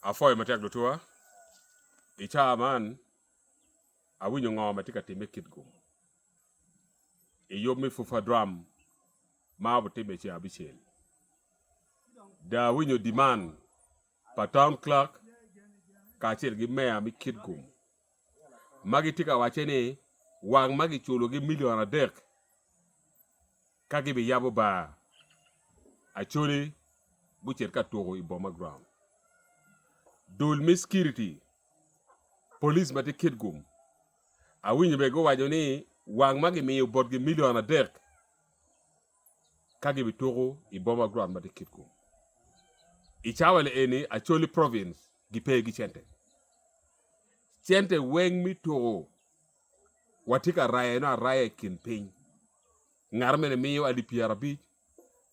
Apwoyo matek lutwa, i caa man awinyo ngo matye ka time kit gu i yub me pwopwa drum ma obitime ceng abicel dong awinyo demand. pa Town Clerk kacel ki Meya me Kitgum ma gitye ka wacce ni wang ma giculogi milion adek ka gibiyabo bar, Acholi gucit ka tuko i Boma Ground. Dul me Cikiriti, Police ma tye Kitgum, awinyo bene guwaco ni wang ma gimiyo botgi milion adek, ka gibituko i boma Grand ma tye Kitgum. I cawa-ni eni Acholi Province gipe gi cente. Cente weng mi tuko watye ka rayone araya i kin piny. Ngat mene miyo alip pyera abic,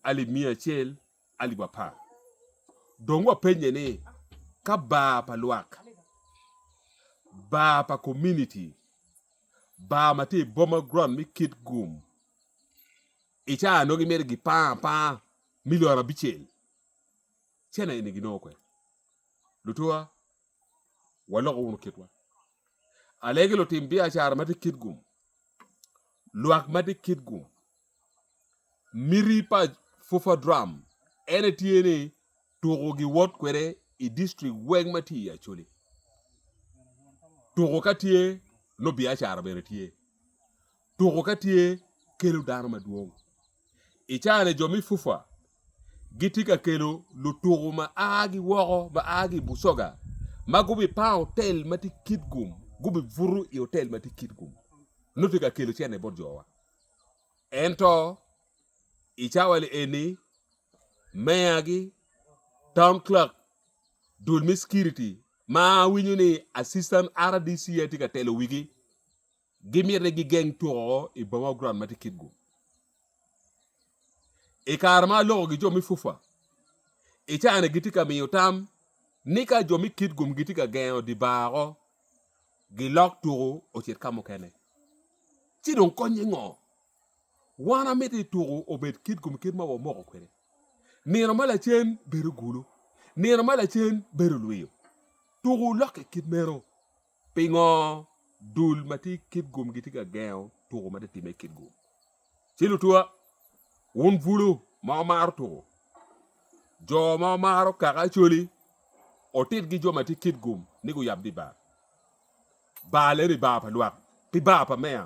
alip miya acel, alip apar. Dong wapenye ni ka bar pa lwak, bar pa community, bar ma tye i boma Grand mi Kitgum I caa nongo gimito gipanga apanga me lworo abicel cene eni ginongo kwede lutuwa walok wunu kitwa alegi lutim biacara ma tye kit gum lwak ma tye kit gum miti pa puperdwom en aye tye ni Tuko giwot kwede i district weng ma tye i Acholi. Tuko ka tye, nongo biacara bene tye. Tuko ka tye, kelo dano madwong. I caa-ni jo me FUFA gitye ka kelo lutuko ma a ki woko, ma a ki i Busoga ma gubipango otel ma tye Kitgum, gubibuto i otel ma tye Kitgum, nongo tye ka kelo cente bot jowa. Ento. i cawa eni, meyagi, town clerk, dul me security ma awinyo ni assistant RDC aye tye ka telo wigi, gimito ni gigeng tuko i boma wa ground ma tye Kitgum. I kare ma alokogi jo me FUFA, i cawa-ni gitye ka miyo tam ni ka jo me Kitgum gitye ka gengo dye bar woko, gilok tuko ocit ka mukene. Ci dong konnye ngo? Wan amito ni tuku obed kit kom kit ma wamoko kwede nino ma lacen bedo gulu, nino ma lacen bedo lwiyo. Tuku lokke kit meno. Pingo dul ma tye kit gum gitye ka gengo tuku ma titimme kit gum? Ci lutuwa, wun bulu ma wumaro tuku, jo ma wumaro kaka Acholi, otitgi jo ma tye kit gum ni guyab di bar. Baal eni baa pa lwak, pi baa pa meya,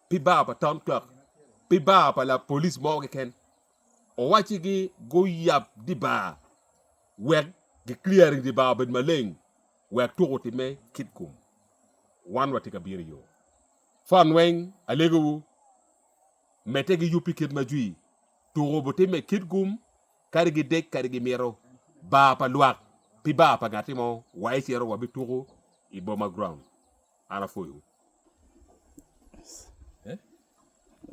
pi baa pa town clerk, pi baa pa lapolis mo keken. Owacci gi guyab di baa wek gi clearing di baa obed maleng wek tuk otime kit kum. Wan watye ka bino iyo. Fon weng alego wu, mete gi yub pi kit ma jwi, tuk obutime kit kum Kadi gidek kadi gimito bar pa lwak pi bar pa ngati mo wa icito wa bi tuku i boma ground an apwoyo wu.